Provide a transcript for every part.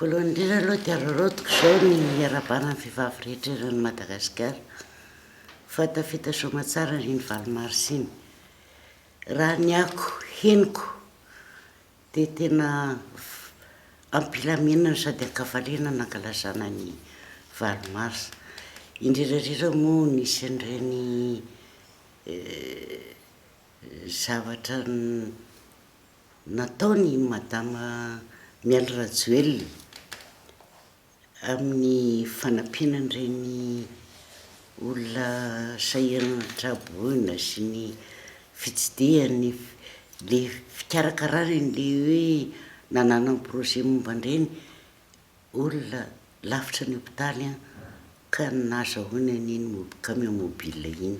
Voalohany indrindra aloha dia araraotiko izao ny hiarahabana ny vehivavy rehetra eran'i Madagasikara fa tafita soamatsara iny valo mars iny. Raha ny ako henoko Dia tena ampilaminana sady ankavaliana nankalazana ny valo mars. Indrirarira moa nisy an'ireny zavatra nataony i Madama Mialy Rajoelina. amin'ny fanampiana an'ireny olona sahirana an-tsaboina sy ny fitsidihany le fikarakarana an'ilay hoe nananany projet momba an'ireny olona lavitra ny hopitaly an, ka nazahoany an'iny mob- camion mobile iny.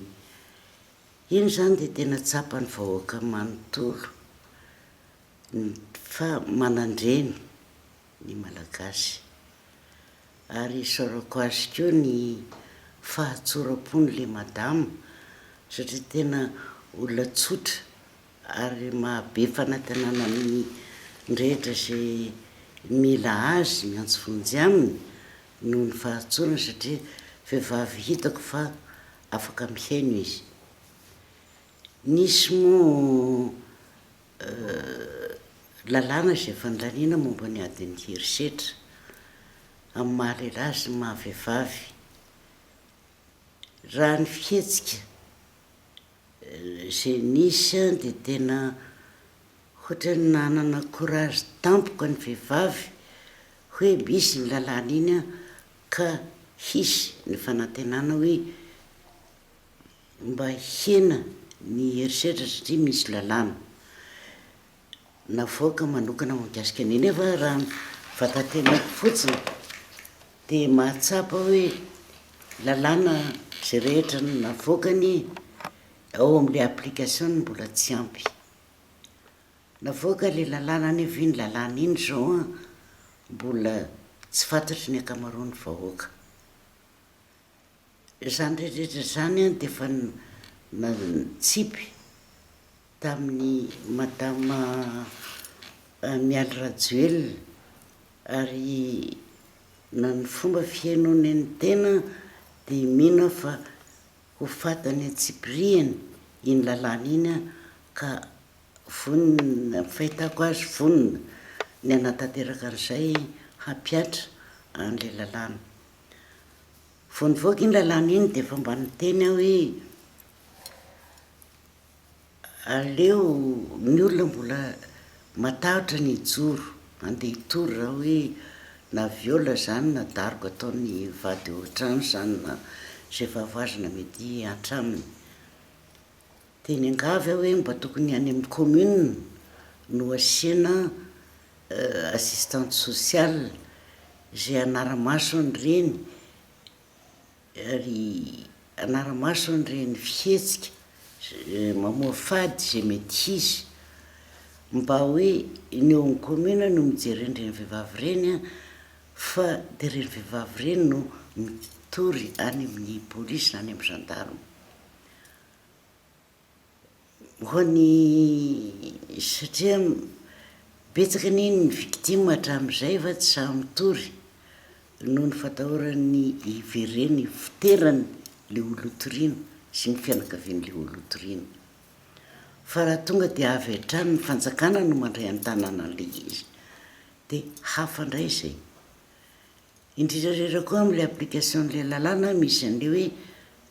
Iny izany dia tena tsapan'ny vahoaka manontolo ny fa manandre ny. ny Malagasy. Ary isaorako azy koa ny fahatsoram-pony le madama satria tena olona tsotra ary mahabe fanatenana amin'ny rehetra izay mila azy miantso vonjy aminy noho ny fahatsorany satria vehivavy hitako fa afaka mihaino izy. Nisy moa Lalàna izay fandaniana momba ny adin'ny herisetra amin'ny maha lehilahy sy ny maha vehivavy. Raha ny fihetsika izay nisy dia tena ohatra hoe nanana courage tampoka ny vehivavy hoe misy iny lalàna iny ka hisy ny fanantenana hoe. mba hihena ny herisetra satria misy lalàna navoaka manokana mahakasika an'io nefa raha ny vatantenako fotsiny dia mahatsapa hoe lalàna izay rehetra navoakany ao amle application no mbola tsy ampy, navoaka le lalàna nefa iny lalàna iny zao an mbola tsy fantatry ny ankamaroan'ny vahoaka. Izany rehetra izany an dia efa nantsipy tamin'i Madama Mialy Rajoelina ary na ny fomba fihainoany ny tena dia mino aho fa ho faty any an-tsipirihany iny lalàna iny an ka vonona, ny fahitako azy vonona ny hanatanteraka an'izay hampihatra an'ilay lalàna. Vao nivoaka iny lalàna iny dia efa mba niteny aho hoe aleo ny olona mbola matahotra ny hijoro ande hitory raha hoe na viol zany na daroka ataon'ny vady eo an-trano zany na izay fahavoazana mety hatraminy. Dia niangavy aho hoe mba tokony any amin'ny commune no asiana assistante sociale izay hanara-maso an'ireny ary hanara-maso an'ireny fihetsika mamoa fady izay mety hisy mba hoe ny eo amin'ny commune no mijery an'ireny vehivavy ireny an, fa dia ireny vehivavy ireny no mitory any amin'ny police na any amin'ny gendarme. Ho an'ny satria betsaka anie ny victime hatramin'izay fa tsy sahy mitory noho ny fatahorany hiverena hivoterany le olona hotoriana sy ny fianakavian'le olona hotoriana. Fa raha tonga de avy hatrany ny fanjakana no mandray an-tanana an'le izy de hafa ndray zay. Indrindra indrindra koa amin'ilay application-n'ilay lalàna misy an'ilay hoe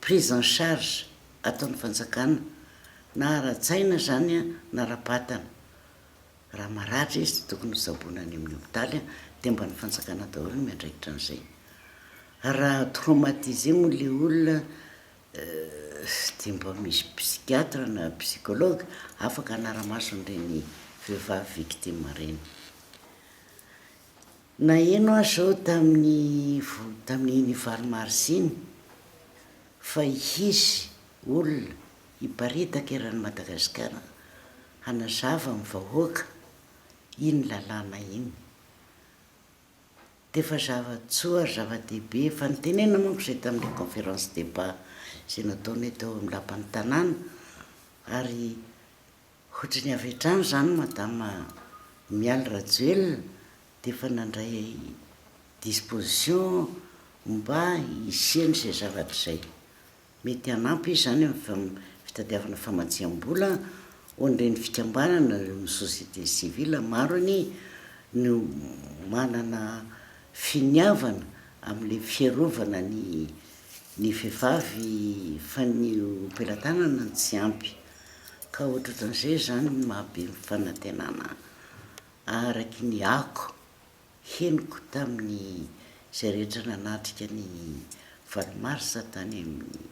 prise en charge ataon'ny fanjakana na ara-tsaina izany na ara-batana. Raha maratra izy dia tokony ho tsaboina any amin'ny hopitaly dia mba ny fanjakana daholo no miandraikitra an'izay. Raha traumatisé moa ilay olona dia mba misy psychiatre na psychologue afaka hanara-maso an'ireny vehivavy victime ireny. Naheno aho izao tamin'ny tamin'iny valo marsa iny fa hisy olona hiparitaka eran'i Madagasikara hanazava amin'ny vahoaka iny lalàna iny. Dia efa zava-tsoa ary zava-dehibe fa nitenenina manko izay tamin'ilay conférence débat izay nataonay tao amin'ny lapan'ny tanàna ary Ohatry ny avy hatrany izany Madame Mialy Rajoelina dia efa nandray disposition mba hisiany izay zavatra izay. Mety hanampy izy izany amin'ny fitadiavana famatsiam-bola ho an'ireny fikambanana, ny société civile maro anie no manana finiavana amin'ilay fiarovana ny ny vehivavy fa ny ho pelatanana no tsy ampy. Ka ohatrohatran'izay izany no mahabe ny fanantenana araky ny ako henoko tamin'ny izay rehetra nanatrika ny valo marsa tany amin'ny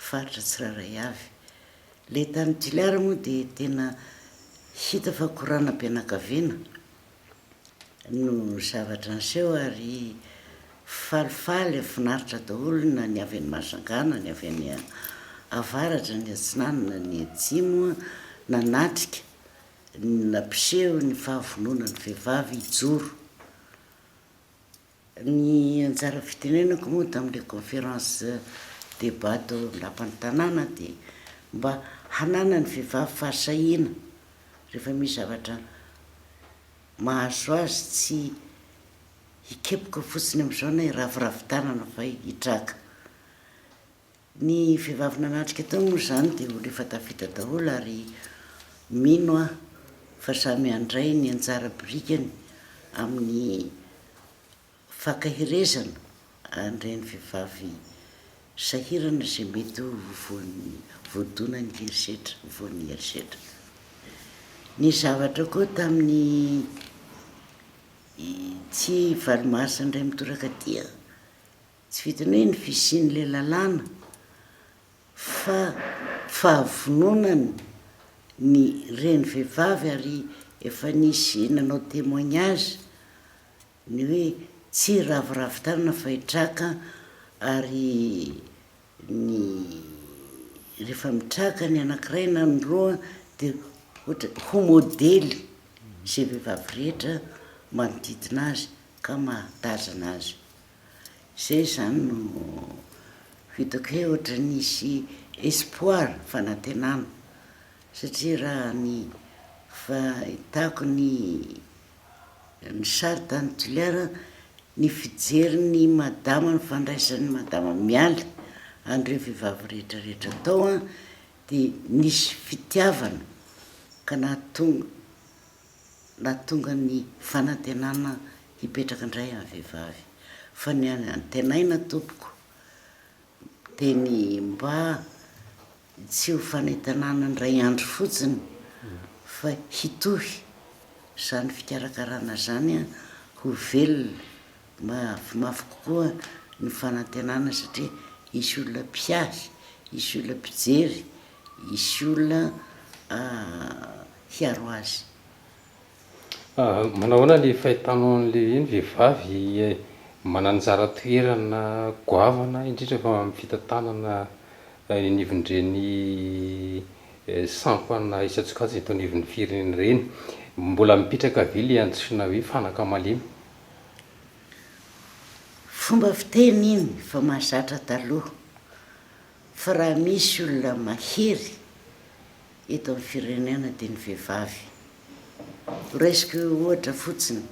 faritra tsirairay avy. Ilay tany Toliara moa dia tena hita fa korana be anakaviana. no zavatra niseho ary falifaly ary finaritra daholo na ny avy any Mahajanga na ny avy any avaratra ny atsinanana na ny atsimo nanatrika ny nampiseho ny fahavononan'ny vehivavy hijoro Ny anjara fitenenako moa tao amin'ilay conférence débat tao amin'ny lapan'ny tanàna dia mba hananan'ny vehivavy fahasahiana rehefa misy zavatra mahazo azy tsy hikepoka fotsiny amin'izao na hiraviravy tanana fa hitraka. Ny vehivavy nanatrika tao moa izany dia olona efa tafita daholo ary mino aho fa samy handray ny anjara birikany amin'ny fankaherezana an'ireny vehivavy sahirana izay mety ho voan'ny voadonan'ny herisetra, voan'ny herisetra. Nisy zavatra koa tamin'ny tsy valo mars indray mitoraka aty an! Tsy vitan'ny hoe ny fisian'ilay lalàna fa fahavononany ny reny vehivavy ary efa nisy nanao témoignage ny hoe tsy raviravy tanana fa i Traka ary ny rehefa mitraka ny anankiray na ny roa dia ohatra ho modely izay vehivavy rehetra manodidina azy ka mahatazana azy. Izay izany no hitako hoe ohatran'ny hisy espoir, fanantenana, satria raha ny fahitako ny ny sary tany Toliara, ny fijerin'i madama, ny fandraisan'i madama Mialy an'ireo vehivavy rehetrarehetra tao an, dia nisy fitiavana ka nahatonga. Mba tonga ny fanantenana hipetraka indray amin'ny vehivavy fa ny antenaina tompoko dia ny mba tsy ho fanantenana indray andro fotsiny fa hitohy izany fikarakarana izany ho velona mafimafy kokoa ny fanantenana satria hisy olona mpiahy, hisy olona mpijery, hisy olona hiaro azy. Manao ahoana ilay fahitànao an'ilay hoe ny vehivavy manana anjara toerana goavana indrindra fa amin'ny fitantanana eny anivon'ireny sampana isan-tsokajiny eto anivon'ny firenena ireny? Mbola mipetraka ve ilay antsoina hoe fanaka malemy? Fomba fiteny iny fa mahazatra taloha fa raha misy olona mahery eto amin'ny firenena dia ny vehivavy. Ho raisiko ohatra fotsiny,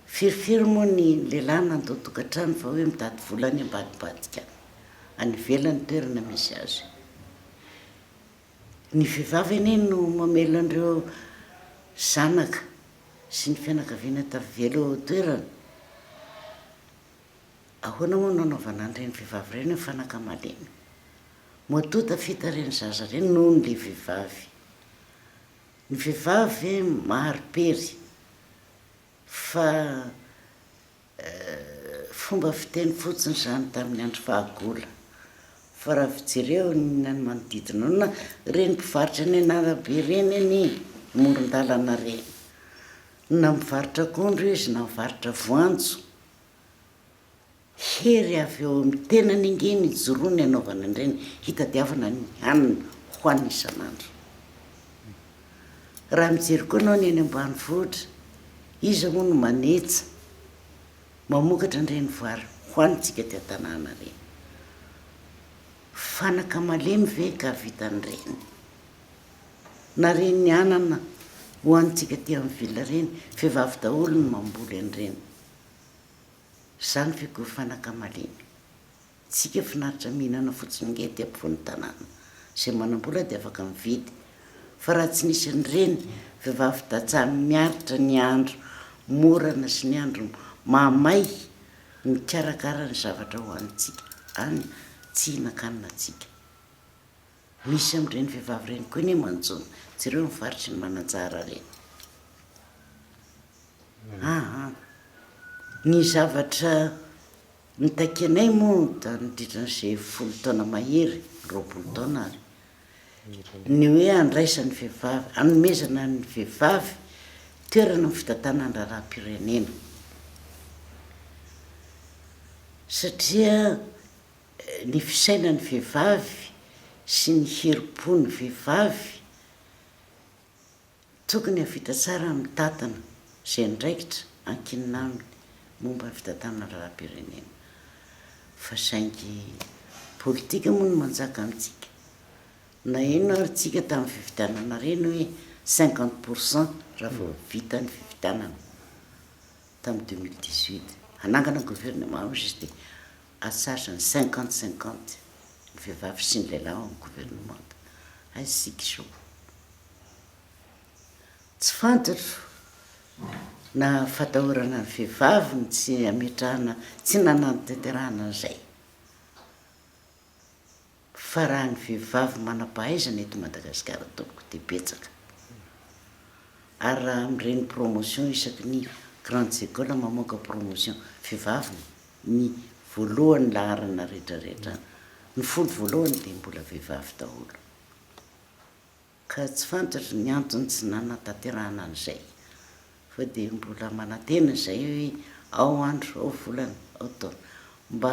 firifiry moa ny lehilahy nandoa tokantrano fa hoe mitady vola any ambadibadika any ivelany toerana misy azy. Ny vehivavy anie no mamela an'ireo zanaka sy ny fianakaviana tavela eo an-toerana. Ahoana moa no anaovana an'ireny vehivavy ireny ny fanaka malemy? Moa toa tafita ireny zaza ireny noho ilay vehivavy? Ny vehivavy ve mahari-pery fa fomba fiteny fotsiny izany tamin'ny andro fahagola? Fa raha vao jereo ny any manodidina ao na ireny mpivarotra eny an'arabe ireny anie, amoron-dalana ireny, na mivarotra akondro izy na mivarotra voanjo Hery avy ao amin'ny tenany ange no ijoroany hanaovana an'ireny, hitadiavana ny hanina hohaniny isan'andro. Raha mijery koa ianao ny any ambanivohitra, iza moa no manetsa, mamokatra an'ireny vary hohanintsika aty an-tanàna ireny? Fanaka malemy ve ka hahavita an'ireny? Na reny anana hohanintsika aty amin'ny ville reny, vehivavy daholo no mamboly an'ireny. Izany ve koa fanakamalemy? Tsika finaritra mihinana fotsiny ange aty ampovoan'ny tanàna, izay manam-bola dia afaka mividy, fa raha tsy nisy an'ireny vehivavy tantsaha miaritra ny andro morana sy ny andro mahamay mikarakara ny zavatra hohanintsika any, tsy hihinan-kanina tsika. Misy amin'ireny vehivavy ireny koa anie manjo jereo ny faritry ny mananjara re aa ny zavatra nitakianay moa da nandritra an'izay folo taona mahery roapolo taona ary ny hoe handraisan'ny vehivavy hanomezana ny vehivavy toerana amin'ny fitantanana ny raharaham-pirenena satria ny fisainan'ny vehivavy sy ny herim-pon'ny vehivavy tokony hahavita tsara ny mitantana izay andraikitra ankinina aminy momba ny fitantanana lalam-pirenena fa saingy politika moa no manjaka amintsika. Naheno ary tsika tamin'ny fifidianana reny hoe cinquante pour cent raha vao vita ny fifidianana tamin'ny deux mille dix-huit hanangana gouvernement hozy izy dia Asaso ny cinquante cinquante ny vehivavy sy ny lehilahy ao amin'ny governemanta. Hay isika izao. Tsy fantatro na fatahorana ny vehivavy no tsy ametrahana, tsy nanantanterahana an'izay. Fa raha ny vehivavy manampahaizana eto Madagasikara tompoko dia betsaka. Ary raha amin'ireny promotion isaky ny grandes écoles mamoaka promotion, vehivavy ny voalohany laharana rehetrarehetra, ny folo voalohany dia mbola vehivavy daholo. ka tsy fantatro ny antony tsy nanatanterahana an'izay fa dia mbola manantena izay hoe ao andro, ao volana, ao taona mba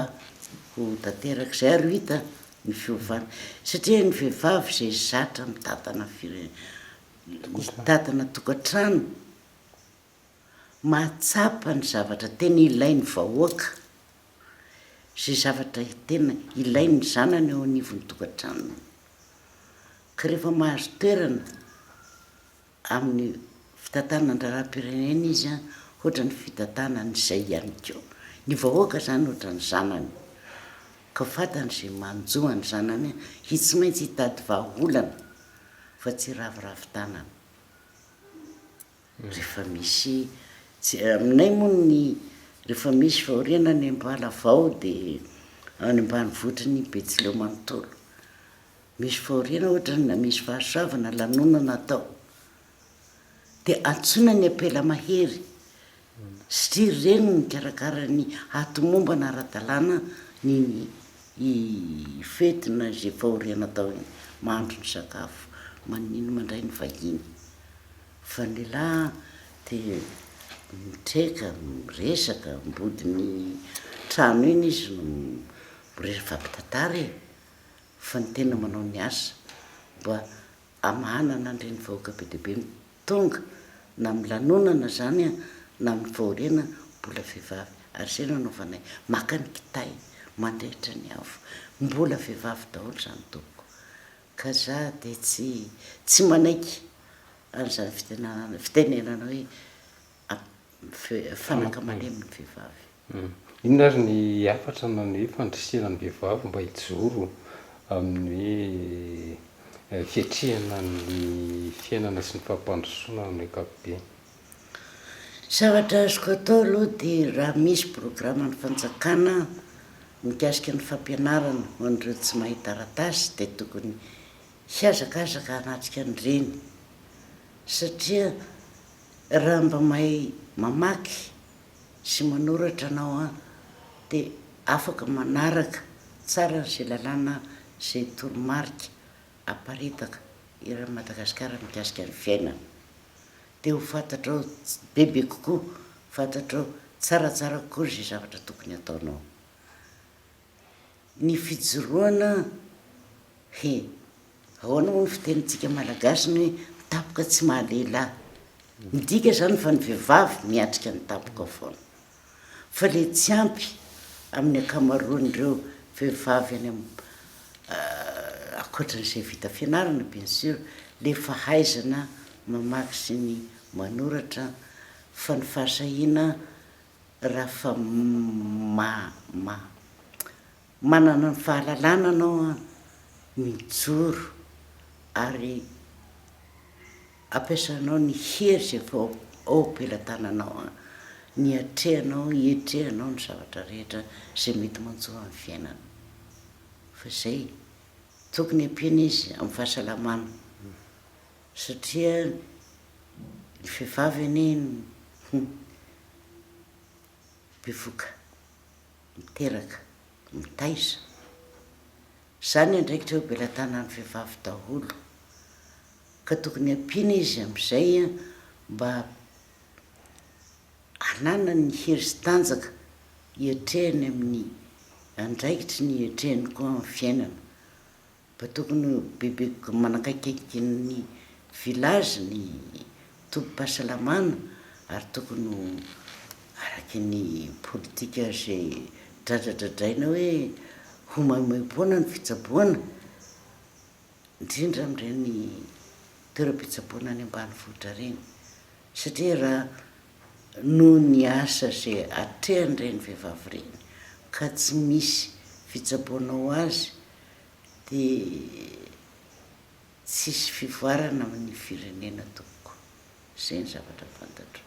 ho tanteraka izay ary ho hita ny fiovana satria ny vehivavy izay zatra mitantana fire, mitantana tokantrano, mahatsapa ny zavatra tena ilain'ny vahoaka, izay zavatra tena ilain'ny zanany eo anivon'ny tokantranony, ka rehefa mahazo toerana amin'ny fitantanan-draharaham-pirenena izy an, ohatran'ny fitantanany izay ihany koa, ny vahoaka izany ohatran'ny zanany, ka fantany izay manjo an'ny zanany dia tsy maintsy hitady vahaolana fa tsy hiraviravy tanana. Rehefa misy tsy, aminay moa ny rehefa misy fahoriana any Ambalavao dia any ambanivotry ny Betsileo manontolo. Misy fahoriana ohatra na misy fahasoavana lanonana atao dia antsoina ny ampela mahery satria ireny no mikarakara ny hatomombana ara-dalàna ny ny fety na izay fahoriana atao iny, mahandro ny sakafo, maninona mandray ny vahiny. Fa ny lahy te mitreka, miresaka, ambodin'ny trano iny izy no miresaka fa mpitantara e! Fa ny tena manao ny asa mba hamahana ny andrin'ny vahoaka be dia be no tonga na amin'ny lanonana zany na amin'ny fahoriana mbola vehivavy ary zay no anaovanay maka ny kitay mandrehitra ny afo mbola vehivavy daholo zany tompoko Ka za dia tsy tsy manaiky an'izany fitenanana fitenenana hoe fanaka malemy ny vehivavy. Inona ary ny hafatra na ny hoe fandrisihana ny vehivavy mba hijoro amin'ny hoe fiatrehana ny fiainana sy ny fampandrosoana amin'ny ankapobeny? Zavatra azoko atao aloha dia raha misy programan'ny fanjakana mikasika ny fampianarana ho an'ireo tsy mahay taratasy dia tokony hihazakazaka hanatrika an'ireny satria raha mba mahay mamaky sy manoratra anao an dia afaka manaraka tsara an'izay lalàna izay toromarika aparitaka eran'i Madagasikara mikasika ny fiainana Dia ho fantatrao bebe kokoa, fantatrao tsaratsara kokoa izay zavatra tokony hataonao. Ny fijoroana, he, ahoana moa ny fitenintsika malagasy ny hoe ny tampoka tsy maha lehilahy. Midika izany fa ny vehivavy miatrika ny tampoka foana. fa le tsy ampy amin'ny ankamaroan'ireo vehivavy any am ankoatran'izay vita fianarana bien sur le fahaizana mamaky sy ny manoratra fa ny fahasahiana raha fa ma ma. Manana ny fahalalana anao an! Mijoro ary ampiasanao ny hery izay efa ao am-pelatananao an! Ny atrehanao, iatrehanao ny zavatra rehetra izay mety manjo amin'ny fiainana. Fa izay, tokony ampiana izy amin'ny fahasalamana satria ny vehivavy anie bevoka. miteraka, mitaiza. Zany ny andraikitra eo belatanan'ny vehivavy daholo ka tokony ampiana izy amizay an mba hananany ny hery sy tanjaka hiatrehany amin'ny andraikitry ny hiatrehany koa amin'ny fiainana Mba tokony ho bebe manakaikaiky ny village ny tobim-pahasalamana ary tokony ho araky ny politika ze dradradradraina hoe ho maimaimpoana ny fitsaboana indrindra amin'ireny toeram-pitsaboana any ambanivohitra ireny satria raha noho ny asa ze atrehan'ireny vehivavy ireny ka tsy misy fitsaboana ho azy dia tsy hisy fivoarana amin'ny firenena tompoko. Izay ny zavatra fantatro.